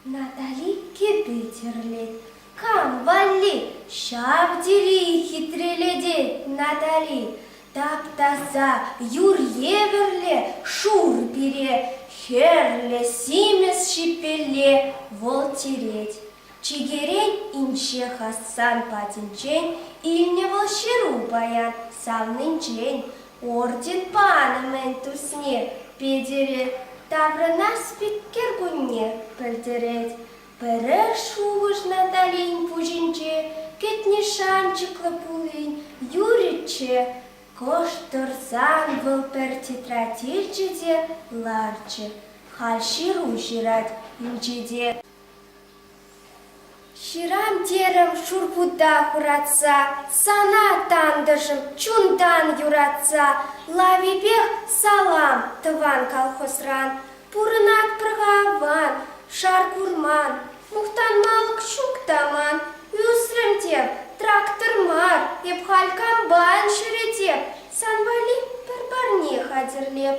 Натали кепи тӗрлет. Кам валли? Ҫав тери хитрелетет Натали. Таптаса юр евӗрле шур пире, хӗрлӗ симес ҫипелле вӑл тирет. Чикерен инҫе Хасан патӗнчен илнӗ вӑл ҫыру паян савнинчен орден панӑ мӗн тусне Петӗре таврӑна спикер кунне пӗлтерет. Пӗрер шухӑш Наталин пуҫӗнче кӗтнӗ шанчӑклӑ пулин юрӗччӗ, кӑшт тӑрсан вӑл пӗр тетрадь илчӗ те ларчӗ. Халь ҫыру ҫырать инҫете. Ҫырам терӗм шурпута хуратса, Сана, тантӑшӑм, чунтан юратса, Лавипех салам тӑван колхозран. Пурӑнатпӑр-ха аван, шар курман, Мухтанмалӑх ҫук та ман. Ӳсрӗм теп, трактор мар, Эп халь комбайн ҫӳретеп, Сан валли пӗр парне хатӗрлеп.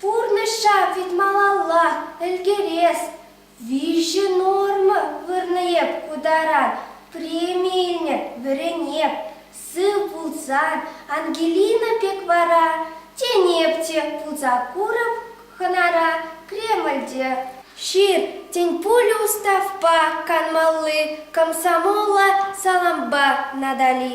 Пурнӑҫа пит малалла ӗлкӗрес виҫӗ норма вырнӑ эп ку тара. Преми илнӗ, вӗренеп, сыв пулсан Ангелина пек вара тенеп те пулса курӑп хӑнара Кремльте. Ҫыр тӗнпулӗ уставпа канмалли комсомола салампа Натали.